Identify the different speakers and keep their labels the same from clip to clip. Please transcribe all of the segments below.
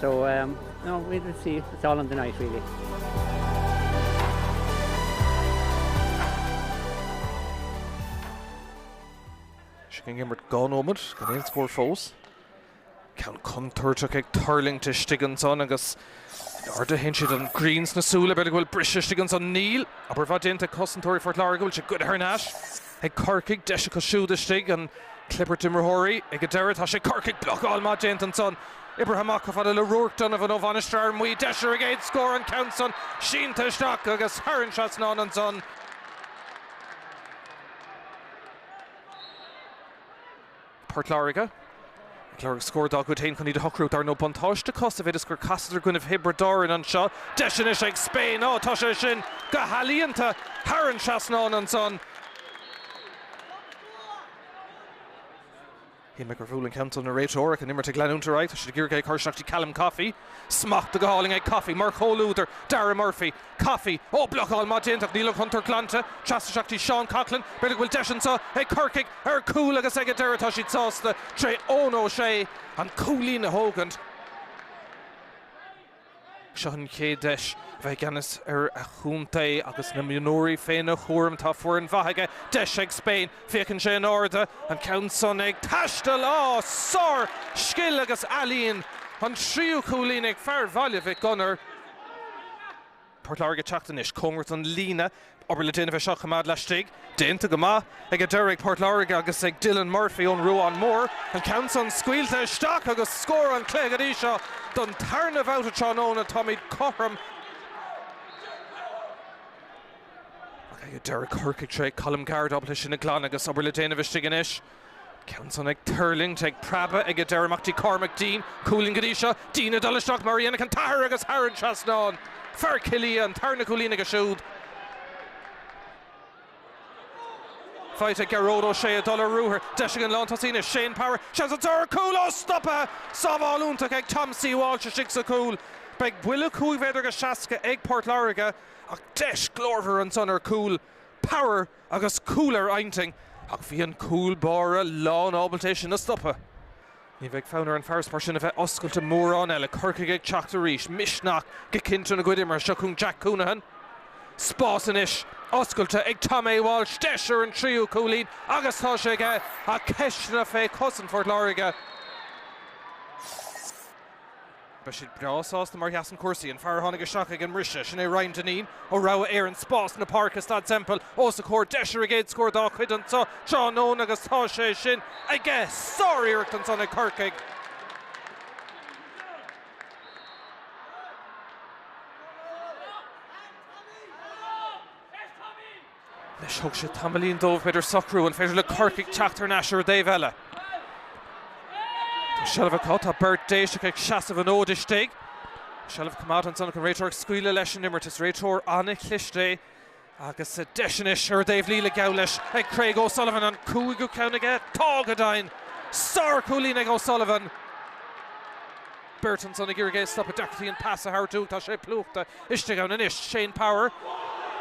Speaker 1: So um no we
Speaker 2: will see it's all in the night really. San imirt dá nóiméad gan aon scór fós. Ceann contúirteach ag tuirlingt istigh ansan agus in airde a théann siad an ghrian sna súile b'fhéidir go bhfuil briseadh istigh ansan Níl obair mhaith déanta ag cosantóirí Phort Láirge go bhfuil sé curtha thar n-ais. Ag Corcaigh, deis acu siúd istigh, an clibirt imreoirí ag an deireadh, tá sé ag Corcaigh, blocáil maith déanta ansan, oibrithe amach chomh fada le Ruairc, Donovan ó Mhainistir Fhear Maí, deis ar an gcéad scór, an ceann san sínte isteach agus thar an trasnán ansan. Port Láirge. Ag lorg scór dá gcuid féin chun iad a shocrú, dar ndóigh. Buntáiste chomh fada is gur casadar i gcoinnibh Thiobraid Árann anseo. Deis anois ag Spain. Á, tá sé sin go healaíonta thar an trasnán ansan. Shíl mé gur bhuail an ceann so an réiteoir ach an imirt ag leanúint ar aghaidh. Tá siad ag iarraidh é a chur isteach go dtí Callum Coffey. Smacht go hálainn ag Coffey mar chomhluadar, Darragh Murphy. Coffey, Ó, blocáil maith déanta ach níl an chontúirt glanta. Trasna isteach go dtí Seán Coughlan, b'fhéidir go bhfuil deis anseo ag Corcaigh. Ar cúl agus ag an deireadh tá siad sásta tré Eoin Ó Sé an cúilín a thógaint. Seo an chéad deis a bheith i gceannas ar a chontae agus na mionúir féna chúram. Tá foireann mhaith aige. Deis ag Spain. Féachann sé in airde. An ceann san ag taisteal. Á! Sár scil agus ealaíon. An tríú cúilín ag fear Bhaile Mhic Gonair. Port Láirge teacht anois cóngarach don líne. Obair le déanamh í seo a choimeád laistigh. Déanta go maith ag an deireadh ag Port Láirge agus ag Dylan Murphy ón Ruán Mór. An ceann san scaoilte isteach agus scór an chluiche go dtí seo. Don tarna bhabhta tráthnóna táimid cothrom. Ag an deireadh Corcaigh tré Colm Garde ábalta sin a ghlanadh agus obair le déanamh istigh anois. An ceann san ag tuirlingt, ag preabadh ag an deireadh amach go dtí Cormac Deane, cúilín go dtí seo, Deane ag dul isteach mar a dhéanfadh an t-athair agus thar an trasnán! Fear Chill Ia an tarna cúilín aige siúd. Faighte ag Gearóid Ó Sé ag dul ar ruathar, deis ag an lántosaí anois Shane Power, seans ansan ar chúl ó! Stoptha! Sábháil iontach ag Tom A Walsh istigh sa chúl. Beidh buille cúig mhéadar seasca ag Port Láirge ach deis glórmhar ansan ar chúl Power. agus cúl ar a intinn ach bhí an cúl báire lán ábalta é sin a stopadh. Ní bheidh fonn ar an farasbarr sin a bheith oscailte mórán eile, Corcaigh ag teacht arís, misneach go cinnte ina gcuid imeartha seo chun Jack Counihan. Spás anois oscailte ag Tom A Walsh, deis ar an tríú cúilín agus tá sé aige ach ceisteanna fé chosaint Phort Láirge. Beidh siad breá sásta mar a sheasann cúrsaí. An fear a tháinig isteach ag an mbriseadh, sin é Ryan Dineen ó Rogha Éireann, spás na páirce i Staid Semple os a chomhair, deis ar an gcéad scór dá chuid anseo tráthnóna agus tá sé sin aige! Sár-iarracht ansan ag Corcaigh. Anois thóg sé tamaillín dóibh b'fhéidir socrú an féidir le Corcaigh teacht thar n-ais ar an dtaobh eile. Tá seilbh acu, tá beirt Déiseach ag seasamh an fhóid istigh. Seilbh coimeádta ansan ach an réiteoir ag scaoileadh leis an imirt. Is réiteoir an-chliste é agus deis anois ar an dtaobh líne geall leis ag Craig O'Sullivan. An cúigiú ceann aige? Tá go deimhin! Sárchúilín ag O'Sullivan. Beirt ansan ag iarraidh é a stopadh, deacrachtaí an pas a thabhairt uaidh. Tá sé plúchta istigh ann anois. Shane Power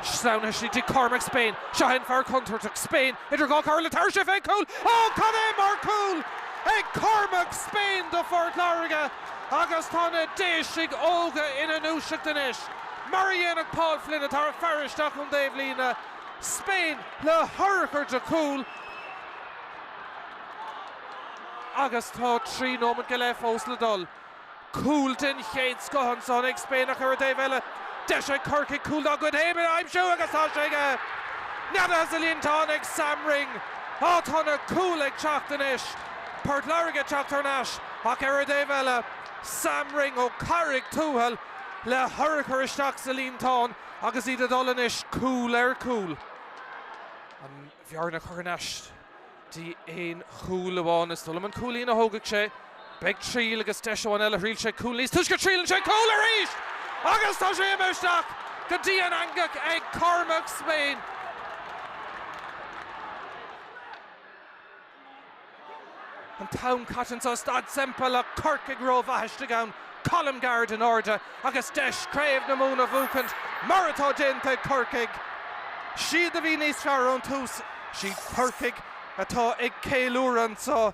Speaker 2: sleamhnaithe istigh dtí Cormac Spain. Seo é an fear contúirteach. Spain idir dhá chomhairle tabharfaidh sé fén gcúl. Ó cad é mar cúl ag Cormac Spain do Phort Láirge agus tá na Déisigh óga ina ndúiseacht anois. Mar a dhéanfadh Paul Flynn atá ar faire isteach ón dtaobh líne. Spain le hurchar de chúl. agus tá trí nóimeat go leith fós le dul. Cúl den chéad scoth ansan ag Spain ach ar an dtaobh eile. Deis ag Corcaigh cúl dá gcuid féin a aimsiú agus tá sé aige! Neadaithe sa líontán ag Sam Ring. Á tá na cúil ag teacht anois! Port Láirge ag teacht thar n-ais ach ar an dtaobh eile, Sam Ring ó Carraig Tuathail le hurchar isteach sa líontán agus iad ag dul anois cúl ar chúl. An. bhearna a chur thar n-ais go dtí aon chúl amháin is dóigh liom an cúilín a thógfaidh sé. Beidh triail agus deis amháin eile. Thriail sé cúl níos túisce triaileann sé cúl arís! Agus tá sé imithe isteach go dtí an eangach ag Cormac Spain. An t-am caite anseo, Staid Semple, Corcaigh rómhaith istigh ann, Colm Garde in airde agus deis Craobh na Mumhan a bhuachaint mar atá déanta ag Corcaigh. Siad a bhí níos fearr ón tús, siad Corcaigh atá ag
Speaker 3: ceiliúradh anseo.